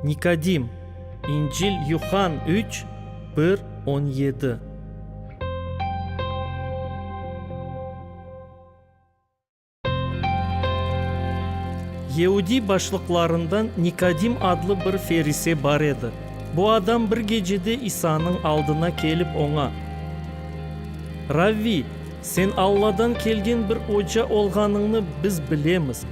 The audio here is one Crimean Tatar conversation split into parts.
Nikodim, İncil, Yuhann üç, bir, on yedi. Yeudiy başlıqlarından Nikodim adlı bir ferise bar edi. Bu adam bir gecede İsanıñ aldına kelip oña, Ravviy! Sen Alladan kelgen bir oca olğanıñnı biz bilemiz,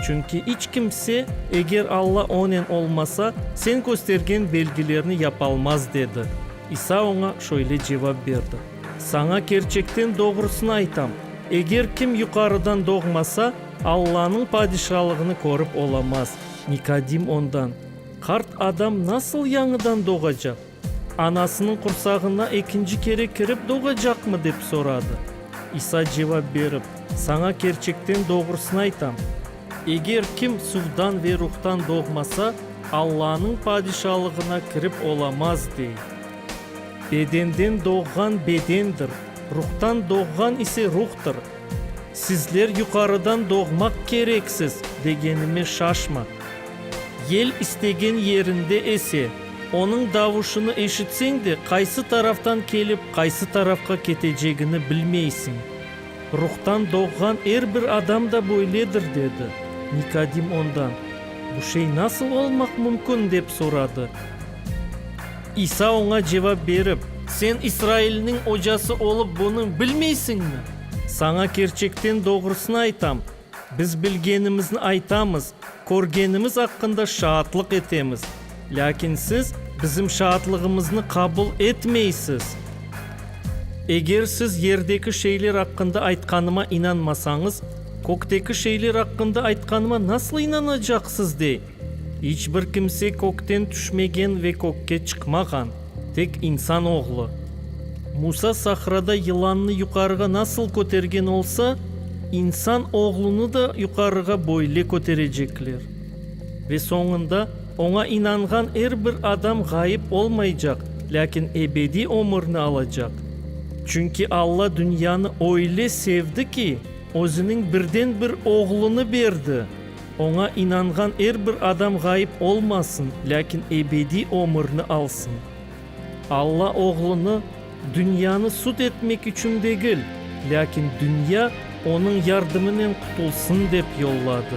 çünki iç kimse, eger Alla onen olmasa, sen köstergen belgilerni yapalmaz, dedi. İsa oña şöyle cevap berdi, Saña kerçekten doğrusını aytam, eger kim yuqarıdan doğmasa, Allanıñ Padişalığını körip olamaz. Nikodim ondan, Qart adam nasıl yañıdan doğacaq? Anasınıñ qursağına ekinci kere kirip doğacaqmı? dep soradı. İsa cevap berip, Saña kerçekten doğrusını aytam, eger kim suvdan ve Ruhtan doğmasa, Allanıñ Padişalığına kirip olamaz, dey. Bedenden doğğan bedendir, Ruhtan doğğan ise ruhtır. Sizler yuqarıdan doğmaq kereksiz degenime şaşma. Yel istegen yerinde ese, onıñ davuşını eşitseñ de, qaysı taraftan kelip, qaysı tarafqa ketecegini bilmeysiñ. Ruhtan doğğan er bir adam da böyledir, dedi. Nikodim ondan, Bu şey nasıl olmaq mümkün? dep soradı. İsa oña cevap berip. Sen İsrailniñ ocası olıp bunı bilmeysiñmi? Saña kerçekten doğrusını aytam, biz bilgenimizni aytamız, körgenimiz aqqında şaatlıq etemiz, lâkin siz bizim şaatlığımıznı qabul etmeysiz. Eger siz yerdeki şeyler aqqında aytqanıma inanmasañız, kökteki şeyler aqqında aytqanıma nasıl inanacaqsız? dey. İç bir kimse kökten tüşmegen ve kökke çıqmağan, tek insan oğlu. Musa sahrada yılannı yuqarığa nasıl kötergen olsa, insan oğlunı da yuqarığa böyle köterecekler. Ve soñunda oña inanğan er bir adam ğayıp olmaycaq, lâkin ebediy ömürni alacaq. Çünki Alla dünyanı öyle sevdi ki, özüniñ birden-bir Oğlunı berdi. Oña inanğan er bir adam ğayıp olmasın, lâkin ebediy ömürni alsın. Alla Oğlunı dünyanı sud etmek içün degil, lâkin dünya Onıñ yardımınen qutulsın dep yolladı.